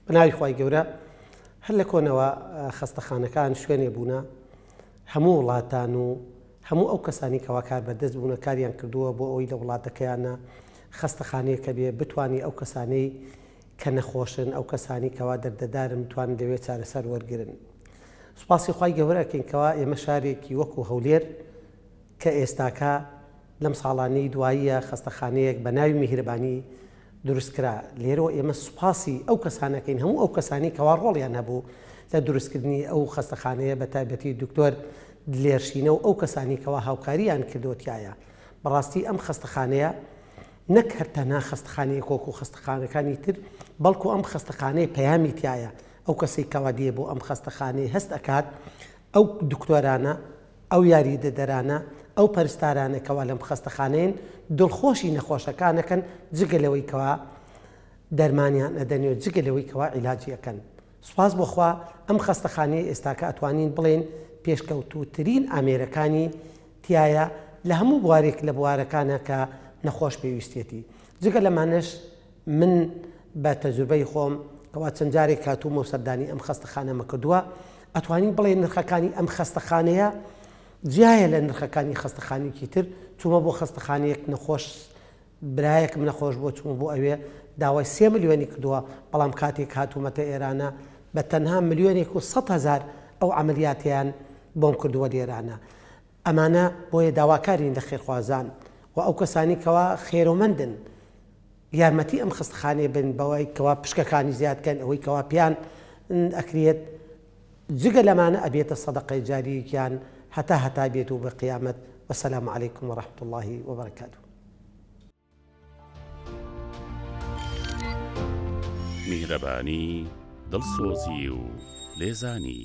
بەناوی خوای گەورە هەر لە کۆنەوە خەستەخانەکان شوێنێ بوونە هەموو وڵاتان و هەموو ئەو کەسانی کەوا کار بەردەست بوونە کاریان کردووە بۆ ئەوی لە وڵاتەکەیانە خەستەخانەیەکە بێ بتانی ئەو کەسانەی کە نەخۆشن ئەو کەسانی کەوا دەردەدارن بتوان لەوێ چارەسەر وەرگن سوپاسی خی گەورەکەین کەوا ئێمە شارێکی وەکو هەولێر کە ئێستاکە لەم ساڵانەی دواییە خەستەخانەیەک بە ناوی میهرەبانی دروست کرا، لێرەوە ئێمە سوپاسی ئەو کەسانەکەین هەموو ئەو کەسانی کەوا ڕۆڵیان هەبوو لە دروستکردنی ئەو خەستەخانەیە بە تایبەتی دکتۆر دلێر شینە و ئەو کەسانی کەوا هاوکارییان کردووە تیایا بەڕاستی ئەم خەستەخانەیە نەک هەر تەنها خەستەخانەیە کۆک و خەستەخانەکانی تر بەڵکو ئەم خەستەخانەیە پەیامی تایە ئەو کەسێک کەوا دێ بۆ ئەم خەستەخانەیە هەست ئەکات ئەو دکتۆرانە ئەو یاریدەدەرانە، ئەو پەرستارانە کەوا لەم خەستەخانەیەن دڵخۆشی نەخۆشەکانەکەن جگە لەوەی کەوا دەرمانیان ئەدەنێ و جگە لەوەی کەوا عیلاجی ئەکەن. سوپاس بۆ خوا ئەم خەستەخانەیە ئێستاکە ئەتوانین بڵێین پێشکەوتووترین ئامێرەکانی تیایە لە هەموو بوارێک لە بوارەکانە کە نەخۆش پێویستیەتی. جگە لەمانەش، من بە تەجروبەی خۆم کەوا چەند جارێک هاتوومە و سەردانی ئەم خەستەخانەمە کردووە ئەتوانین بڵێ نرخەکانی ئەم خەستەخانەیە جیایە لە نرخەکانی خەستەخانێکی تر چوومە بۆ خەستەخانەیەک نەخۆش برایەکم نەخۆش بۆ چووم بۆ ئەوێ داوای سێ ملیۆنی کردووە بەڵام کاتێک هاتوومەتە ئێرانە بە تەنها ملیۆنێک و سە هزار ئەو عملیاتیان بۆم کردووە لێرانە ئەمانە بۆیە داواکارین لە خێرخوازان و ئەو کەسانی کەوا خێرۆمەندن یارمەتی ئەم خەستەخانەیە بن بەوەی کەوا پشکەکانی زیاد کەن ئەوەی کەوا پێیان ئەکرێت جگە لەمانە ئەبێتە سەدەقەی جاریەکیان هەتا هەتا بێت و بە قیامەت وەسەلام علیکم و رحمت اللهی وبرکاته میهرەبانی دڵسۆزی و لێزانی